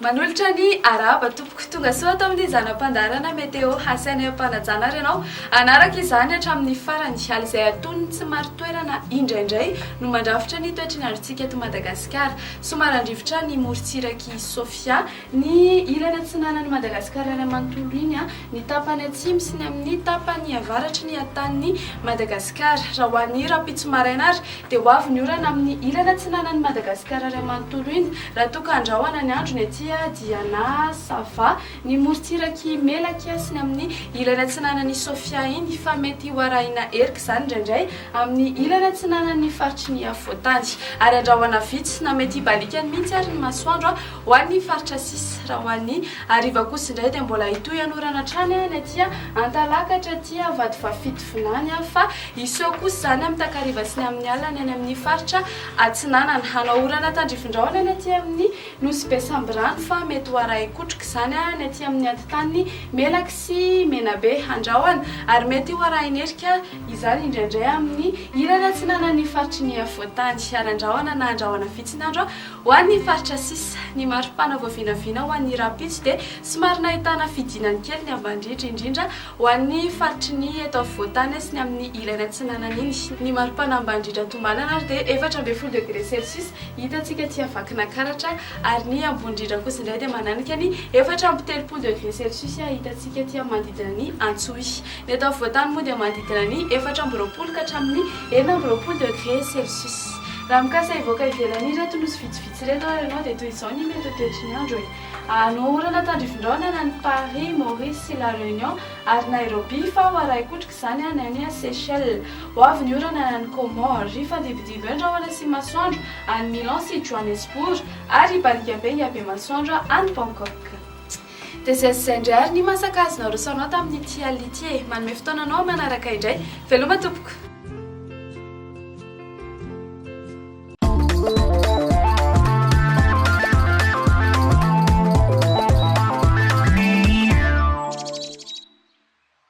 Manolotra ny arahaba tompoko. Tonga soa ato amin'ny zana-pandaharana Météo Hasainay am-panajana ary ianao hanaraka izany hatramin'ny farany. Hala izay aton'ny tsy marin-toerana indraindray no mandrafitra ny toetry ny androntsika eto Madagasikara. Somary handrivotra ny morontsirak'i Sofia. Ny ilany atsinanan'i Madagasikara iray manontolo iny, ny tapany atsimo sy ny amin'ny tapany avaratry ny hatanin'i Madagasikara. Raha ho an'ny rahampitso maraina ary dia ho avy ny orana amin'ny ilany atsinanan'i Madagasikara iray manontolo iny. Raha toa ka handrahona ny andro ny aty dia na ça va ny morontsirak'i Melaky sy ny amin'ny ilany atsinanan'i Sofia iny fa mety ho arahina erika izany indraindray amin'ny ilany atsinanan'ny faritry ny afovoantany ary handrahona vitsy na mety hibaliakany mihitsy ary ny masoandro Ho an'ny faritra sisa, raha ho an'ny hariva kosa indray dia mbola hitohy hanorana hatrany ny aty Antalakatra, aty Vatovafito vinany, fa hiseho kosa izany amin'ny takariva sy ny amin'ny alina ny any amin'ny faritra Atsinanana. Hanao orana tandrifin-drahona ny aty amin'ny Nosy be Sambirano fa mety ho arahin-kotroka izany ny aty amin'ny antontan'ny Melaky sy Menabe Andrahona ary mety ho arahin'erika izany indraindray amin'ny ilany atsinanan'ny faritry ny afovoan-tany ary Andrahona na Andrahona vitsy ny andro Ho an'ny faritra sisa, ny maripana voavinavina ho an'ny rahampitso dia somary nahitana fidinany kely ny amban-driry, indrindra ho an'ny faritry ny eto afovoan-tany sy ny amin'ny ilany atsinanan'iny. Ny maripana amban-drindra tombanana ary dia efatra ambin'ny folo degre celsius hitantsika aty Vakinankaratra, ary ny ambony indrindra kosa indray dia mananika ny efatra amby telopolo degre celsius hitantsika aty amin'ny manodidina ny Antsohihy. Ny eto afovoan-tany moa dia manodidina ny efatra amby roapolo ka hatramin'ny enina amby roapolo degre celsius. Raha mikasa hivoaka ivelany ireto nosy vitsivitsy ireto ary ianao dia toy izao ny mety ho toetry ny andro e. Hanoa orana tandrifindraona na ny Paris, Maurice sy La Réunion ary Nairobi fa ho arahi-kotroka izany ny any Seychelles. Ho avy ny orana any amin'ny Comores. Hifandibodibo eo ny rahona sy ny masoandro any Milan sy Johannesburg ary hibarika be hihabe masoandro any Bangkok. Dia izay sy izay indray ary ny maha sakazy naroso anao tamin'ity alina ity e! Manome fotoana anao aho manaraka indray. Veloma tompoko!